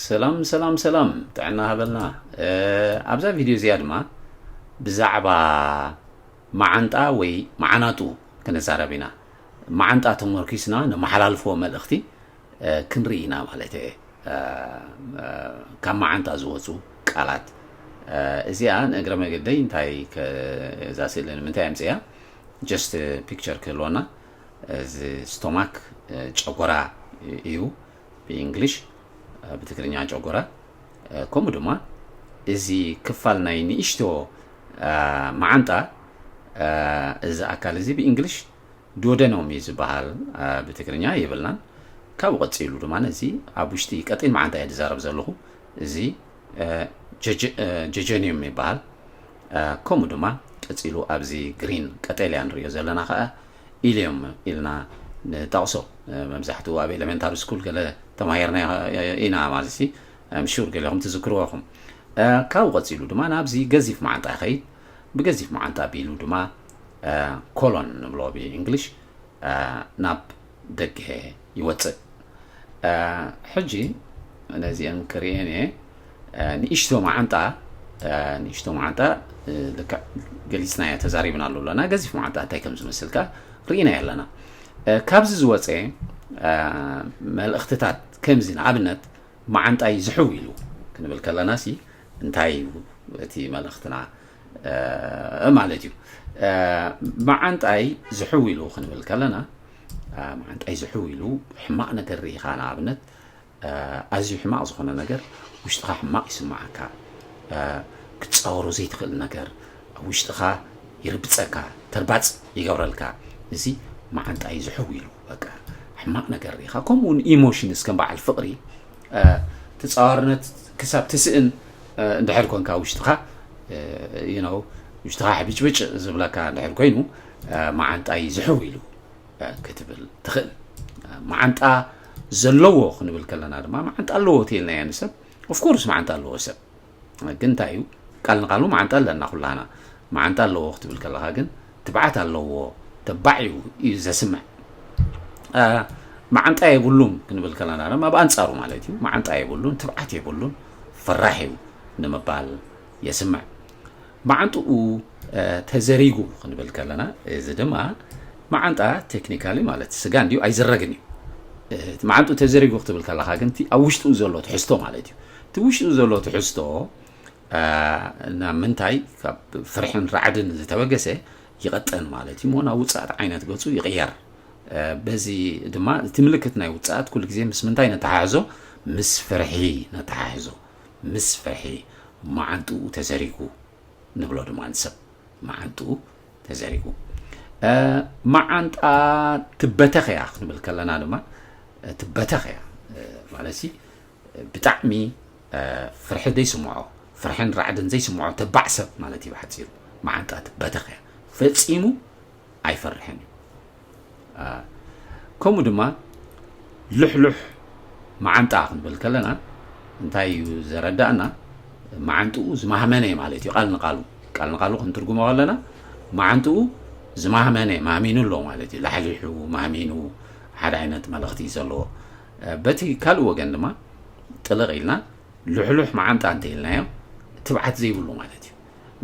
ሰላም ሰላም ሰላም ጥዕና ሃበልና ኣብዛ ቪድዮ እዚኣ ድማ ብዛዕባ መዓንጣ ወይ መዓናጡ ክንዛረብ ኢና መዓንጣ ተመርኪስና ንመሓላልፎ መልእኽቲ ክንርኢ ኢና ማለት እየ ካብ መዓንጣ ዝወፁ ቃላት እዚኣ ንእግረ መገደይ እንታይ እዛ ስእሊ ንምንታይ ኣምፅያ ጀስት ፒክቸር ክህልወና እዚ ስቶማክ ጨጎራ እዩ ብእንግሊሽ፣ ብትግርኛ ጨጎራ፣ ከምኡ ድማ እዚ ክፋል ናይ ንእሽቶ መዓንጣ እዚ ኣካል እዚ ብእንግሊሽ ዶደኖም እዩ ዝበሃል፣ ብትግርኛ የብልናን። ካብኡ ቀፂሉ ድማ እዚ ኣብ ውሽጢ ቀጢን መዓንጣ እየ ዝዛረብ ዘለኹ እዚ ጀጀኒየም ይበሃል። ከምኡ ድማ ቀፂሉ ኣብዚ ግሪን ቀጠልያ ንሪኦ ዘለና ከዓ ኢሊም ኢልና ንጠቕሶ መብዛሕትኡ ኣብ ኤለመንታሪ ስኩል ገለ ተማሂርናዮ ኢና ማለትሲ ኣም ሹር ገሊኹም ትዝክርዎ ኢኹም ካብኡ ቀጺሉ ድማ ናብዚ ገዚፍ መዓንጣ ይኸይድ ብገዚፍ መዓንጣ ቢሉ ድማ ኮሎን ንብሎ ብእንግሊሽ ናብ ደገ ይወጽእ ሕጂ ነዚኤን ክርእየን እየ ንእሽቶ መዓንጣ ንእሽቶ መዓንጣ ልክዕ ገሊፅና እያ ተዛሪብና ኣሎ ኣለና ገዚፍ መዓንጣ እንታይ ከም ዝመስልካ ርኢና ኣለና ካብዚ ዝወፀ መልእኽትታት ከምዚ ንኣብነት መዓንጣይ ዝሕው ኢሉ ክንብል ከለና ሲ እንታይ እዩ እቲ መልእኽትና ማለት እዩ መዓንጣይ ዝሕው ኢሉ ክንብል ከለና መዓንጣይ ዝሕው ኢሉ ሕማቕ ነገር ርኢኻ ንኣብነት ኣዝዩ ሕማቕ ዝኾነ ነገር ውሽጥኻ ሕማቕ ይስምዓካ ክትጻወሮ ዘይትኽእል ነገር ኣብ ውሽጥኻ ይርብጸካ ተርባጽ ይገብረልካ እዚ መዓንጣይ ዝሕው ኢሉ በቃ ሕማቕ ነገር ርኢኻ ከምኡውን ኢሞሽንስ ከም በዓል ፍቕሪ ተጻዋርነት ክሳብ ትስእን እንድሕር ኮንካ ውሽጥኻ ውሽጥኻ ሕብጭብጭ ዝብለካ እንድሕር ኮይኑ መዓንጣይ ዝሕው ኢሉ ክትብል ትኽእል መዓንጣ ዘለዎ ክንብል ከለና ድማ መዓንጣ ኣለዎ እትይልና እያ ንሰብ ኦፍኮርስ መዓንጣ ኣለዎ ሰብ ግን እንታይ እዩ ቃል ንቃሉ መዓንጣ ኣለና ኩላና መዓንጣ ኣለዎ ክትብል ከለካ ግን ትብዓት ኣለዎ ተባዕ እዩ እዩ ዘስምዕ መዓንጣ የብሉን ክንብል ከለና ድማ ብኣንፃሩ ማለት እዩ መዓንጣ የብሉን ትብዓት የብሉን ፈራሕ እዩ ንምባል የስምዕ መዓንጥኡ ተዘሪጉ ክንብል ከለና እዚ ድማ መዓንጣ ቴክኒካሊ ማለት ስጋ እንዲዩ ኣይዝረግን እዩ እቲ መዓንጡ ተዘሪጉ ክትብል ከለካ ግን እቲ ኣብ ውሽጡ ዘሎ ትሕዝቶ ማለት እዩ እቲ ውሽጡ ዘሎ ትሕዝቶ ናብ ምንታይ ካብ ፍርሕን ራዕድን ዝተበገሰ ይቐጠን ማለት እዩ ሞ ናብ ውፃእት ዓይነት ገፁ ይቕየር በዚ ድማ እቲ ምልክት ናይ ውፃእት ኩሉ ግዜ ምስ ምንታይ ነተሓሕዞ ምስ ፍርሒ ነተሓሕዞ ምስ ፍርሒ መዓንጥኡ ተዘሪጉ ንብሎ ድማ ንሰብ መዓንጥኡ ተዘሪጉ መዓንጣ ትበተኽ እያ ክንብል ከለና ድማ ትበተኽ እያ ማለት ሲ ብጣዕሚ ፍርሒ ዘይስምዖ ፍርሕን ራዕድን ዘይስምዖ ተባዕ ሰብ ማለት እዩ ብሓፂሩ መዓንጣ ትበተኽ እያ ፈፂሙ ኣይፈርሕን እዩ ከምኡ ድማ ልሕሉሕ መዓንጣ ክንብል ከለና እንታይ እዩ ዘረዳእና መዓንጥኡ ዝማህመነ እዩ ማለት እዩ ቃል ንቃሉ ቃል ንቃሉ ክንትርጉሞ ከለና መዓንጥኡ ዝማህመነ ማህሚኑ ኣሎ ማለት እዩ ላሕሊሑ ማህሚኑ ሓደ ዓይነት መልእኽቲ ዘለዎ በቲ ካልእ ወገን ድማ ጥልቕ ኢልና ልሕሉሕ መዓንጣ እንተኢልናዮ ትብዓት ዘይብሉ ማለት እዩ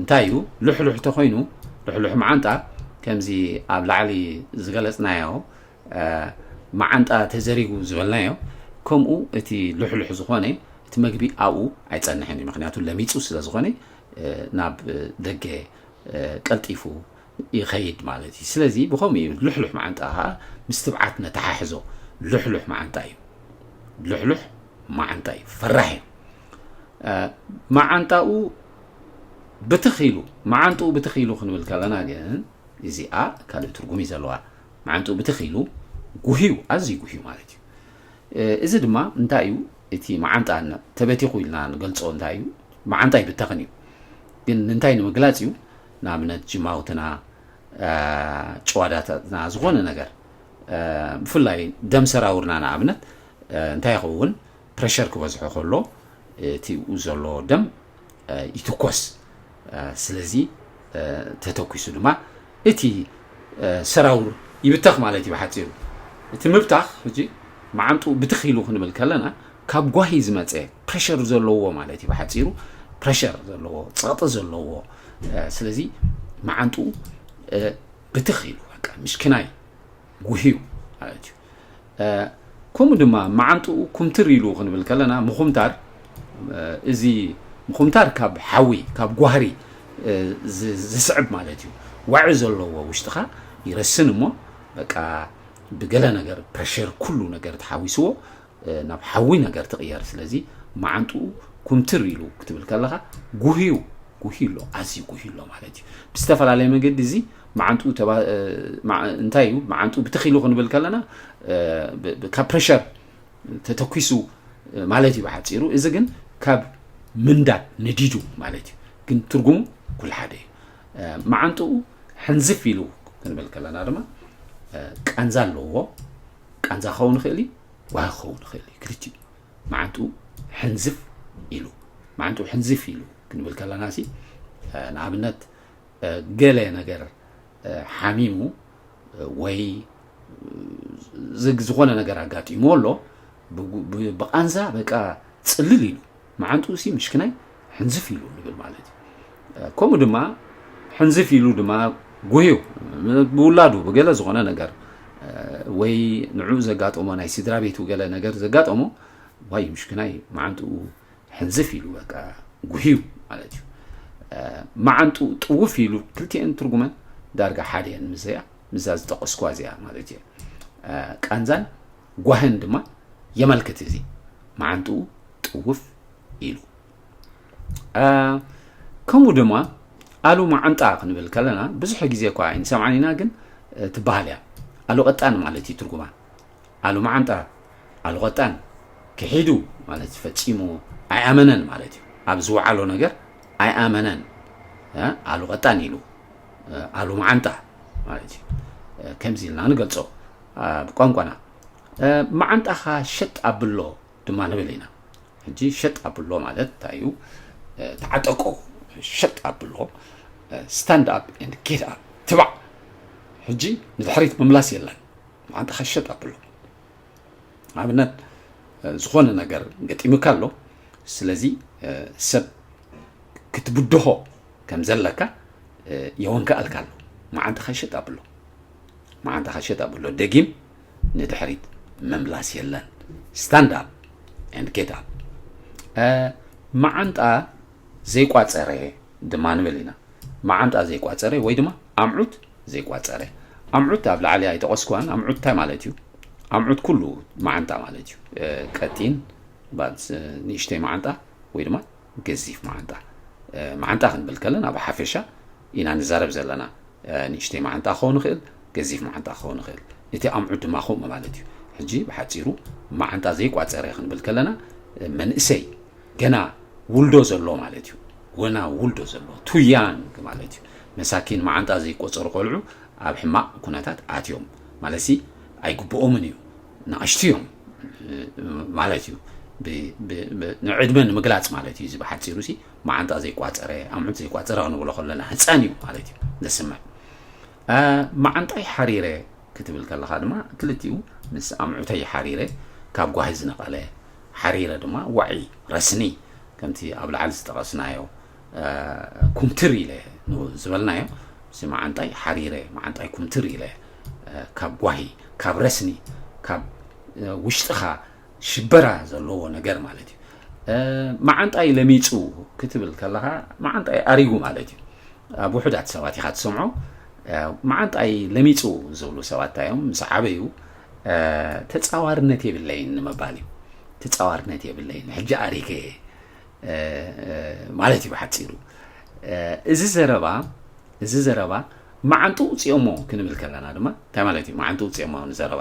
እንታይ እዩ ልሕሉሕ ተኮይኑ ልሕሉሕ መዓንጣ ከምዚ ኣብ ላዕሊ ዝገለፅናዮ መዓንጣ ተዘሪጉ ዝበልናዮ ከምኡ እቲ ልሕሉሕ ዝኾነ እቲ መግቢ ኣብኡ ኣይፀንሕን እዩ ምክንያቱ ለሚፁ ስለ ዝኾነ ናብ ደገ ቀልጢፉ ይኸይድ ማለት እዩ ስለዚ ብከምኡ እዩ ልሕሉሕ መዓንጣ ከዓ ምስ ትብዓት ነተሓሕዞ ልሕሉሕ መዓንጣ እዩ ልሕሉሕ መዓንጣ እዩ ፈራሕ እዩ መዓንጣኡ ብትኽ ኢሉ መዓንጥኡ ብትኽ ኢሉ ክንብል ከለና ግን እዚኣ ካልእ ትርጉም እዩ ዘለዋ መዓንጥኡ ብትኽ ኢሉ ጉህዩ ኣዝዩ ጉህዩ ማለት እዩ እዚ ድማ እንታይ እዩ እቲ መዓንጣ ተበቲኹ ኢልና ንገልፆ እንታይ እዩ መዓንጣ ይብተኽን እዩ ግን እንታይ ንምግላፅ እዩ ንኣብነት ጅማውትና ጭዋዳታትና ዝኾነ ነገር ብፍላይ ደም ሰራውርና ንኣብነት እንታይ ይኸውን ፕረሸር ክበዝሖ ከሎ እቲ ኡ ዘሎ ደም ይትኮስ ስለዚ ተተኪሱ ድማ እቲ ሰራውር ይብተኽ ማለት እዩ ብሓፂሩ እቲ ምብታኽ ሕጂ መዓንጥኡ ብትኽ ኢሉ ክንብል ከለና ካብ ጓሂ ዝመፀ ፕረሸር ዘለዎ ማለት እዩ ብሓፂሩ ፕረሸር ዘለዎ ፀቕጢ ዘለዎ ስለዚ መዓንጥኡ ብትኽ ኢሉ በቃ ምሽኪናይ ጉህዩ ማለት እዩ ከምኡ ድማ መዓንጥኡ ኩምትር ኢሉ ክንብል ከለና ምኹምታር እዚ ምኹምታር ካብ ሓዊ ካብ ጓህሪ ዝስዕብ ማለት እዩ። ዋዒ ዘለዎ ውሽጥኻ ይረስን እሞ በቃ ብገለ ነገር ፕረሸር ኩሉ ነገር ተሓዊስዎ ናብ ሓዊ ነገር ትቕየር ስለዚ መዓንጥኡ ኩምትር ኢሉ ክትብል ከለኻ ጉህዩ ጉህዩ ኣሎ ኣዝዩ ጉህዩ ኣሎ ማለት እዩ ብዝተፈላለየ መገዲ እዚ መዓንጥኡ እንታይ እዩ መዓንጥኡ ብትኺሉ ክንብል ከለና ካብ ፕሬሸር ተተኪሱ ማለት እዩ ብሓፂሩ እዚ ግን ካብ ምንዳድ ነዲዱ ማለት እዩ ግን ትርጉሙ ኩሉ ሓደ እዩ መዓንጥኡ ሕንዝፍ ኢሉ ክንብል ከለና ድማ ቃንዛ ኣለዎ ቃንዛ ክኸውን ይኽእል እዩ ዋሂ ክኸውን ይኽእል እዩ ክልቲኡ መዓንጡ ሕንዝፍ ኢሉ መዓንጡ ሕንዝፍ ኢሉ ክንብል ከለና ሲ ንኣብነት ገለ ነገር ሓሚሙ ወይ ዝግ ዝኾነ ነገር ኣጋጢሙ ኣሎ ብቃንዛ በቃ ፅልል ኢሉ መዓንጥኡ ሲ ምሽክናይ ሕንዝፍ ኢሉ ንብል ማለት እዩ ከምኡ ድማ ሕንዝፍ ኢሉ ድማ ጉህዩ ብውላዱ ብገለ ዝኾነ ነገር ወይ ንዕኡ ዘጋጠሞ ናይ ስድራ ቤቱ ገለ ነገር ዘጋጠሞ ዋይ ምሽክናይ መዓንጥኡ ሕንዝፍ ኢሉ በቃ ጉህዩ ማለት እዩ መዓንጥኡ ጥውፍ ኢሉ ክልቲኤን ትርጉመን ዳርጋ ሓደ እየን ምዘያ ምዛ ዝጠቀስኳ እዚኣ ማለት እየ ቃንዛን ጓህን ድማ የመልክት እዚ መዓንጥኡ ጥውፍ ኢሉ ከምኡ ድማ ኣሉ መዓንጣ ክንብል ከለና ብዙሕ ግዜ እኳ ኣይንሰምዓን ኢና ግን ትበሃል እያ ኣሉ ቀጣን ማለት እዩ ትርጉማ ኣሉ መዓንጣ ኣሉ ቀጣን ክሒዱ ማለት ፈፂሙ ኣይኣመነን ማለት እዩ ኣብ ዝወዓሎ ነገር ኣይኣመነን ኣሉ ቀጣን ኢሉ ኣሉ መዓንጣ ማለት እዩ ከምዚ ኢልና ንገልፆ ኣብ ቋንቋና መዓንጣኻ ሸጥ ኣብሎ ድማ ንብል ኢና ሕጂ ሸጥ ኣብሎ ማለት እንታይ እዩ ተዓጠቆ ሸጥ ኣብሎ ስታንድ ኣፕ ኤንድ ጌት ኣፕ ትባዕ ሕጂ ንድሕሪት ምምላስ የለን መዓንጣኻ ሸጥ ኣብሎ ኣብነት ዝኾነ ነገር ገጢሙካ ኣሎ ስለዚ ሰብ ክትብድሆ ከም ዘለካ የወንከኣልካ ኣሎ መዓንጣኻ ሸጥ ኣብሎ መዓንታኻ ሸጥ ኣብሎ ደጊም ንድሕሪት ምምላስ የለን ስታንድ ኣፕ ኤንድ ጌት ኣፕ መዓንጣ ዘይቋፀረ ድማ ንብል ኢና መዓንጣ ዘይቋፀረ ወይ ድማ ኣምዑት ዘይቋፀረ ኣምዑት ኣብ ላዕሊ ኣይጠቐስኩዋን ኣምዑት እንታይ ማለት እዩ ኣምዑት ኩሉ መዓንጣ ማለት እዩ ቀጢን ንእሽተይ መዓንጣ ወይ ድማ ገዚፍ መዓንጣ መዓንጣ ክንብል ከለና ብሓፈሻ ኢና ንዛረብ ዘለና ንእሽተይ መዓንጣ ክኸውን ይኽእል ገዚፍ መዓንጣ ክኸውን ይኽእል እቲ ኣምዑት ድማ ከምኡ ማለት እዩ ሕጂ ብሓጺሩ መዓንጣ ዘይቋጸረ ክንብል ከለና መንእሰይ ገና ውልዶ ዘሎ ማለት እዩ ወና ውልዶ ዘሎ ቱ ያንግ ማለት እዩ መሳኪን መዓንጣ ዘይቆጸሩ ቆልዑ ኣብ ሕማቕ ኩነታት ኣትዮም ማለት ሲ ኣይግብኦምን እዩ ንኣሽቱ እዮም ማለት እዩ ንዕድመ ንምግላጽ ማለት እዩ እዚ ብሓጺሩ ሲ መዓንጣ ዘይቋፀረ ኣምዑት ዘይቋፀረ ክንብሎ ከለና ህፃን እዩ ማለት እዩ ዘስምዕ መዓንጣይ ሓሪረ ክትብል ከለካ ድማ ክልቲኡ ምስ ኣምዑተይ ሓሪረ ካብ ጓሂ ዝነቐለ ሓሪረ ድማ ዋዒ ረስኒ ከምቲ ኣብ ላዕሊ ዝጠቐስናዮ ኩምትር ኢለ ዝበልናዮ እዚ መዓንጣይ ሓሪረ መዓንጣይ ኩምትር ኢለ ካብ ጓሂ ካብ ረስኒ ካብ ውሽጥኻ ሽበራ ዘለዎ ነገር ማለት እዩ። መዓንጣይ ለሚጹ ክትብል ከለኻ መዓንጣይ ኣሪጉ ማለት እዩ። ኣብ ውሑዳት ሰባት ኢኻ ትሰምዖ። መዓንጣይ ለሚጹ ዝብሉ ሰባት እንታይ እዮም? ምስ ዓበዩ ተጻዋርነት የብለይን ንምባል እዩ። ተጻዋርነት የብለይን ሕጂ ኣሪገ ማለት እዩ ብሓጺሩ። እዚ ዘረባ እዚ ዘረባ መዓንጡ ውፅኦሞ ክንብል ከለና ድማ እንታይ ማለት እዩ? መዓንጡ ውፅኦሞ ንዘረባ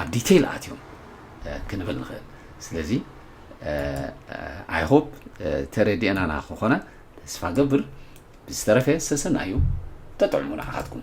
ኣብ ዲቴይል ኣትዮም ክንብል ንኽእል ስለዚ ኣይሆፕ ተረዲኤናና ክኾነ ተስፋ ገብር ብዝተረፈ ሰሰና እዩ ተጥዕሙ ንዓኻትኩም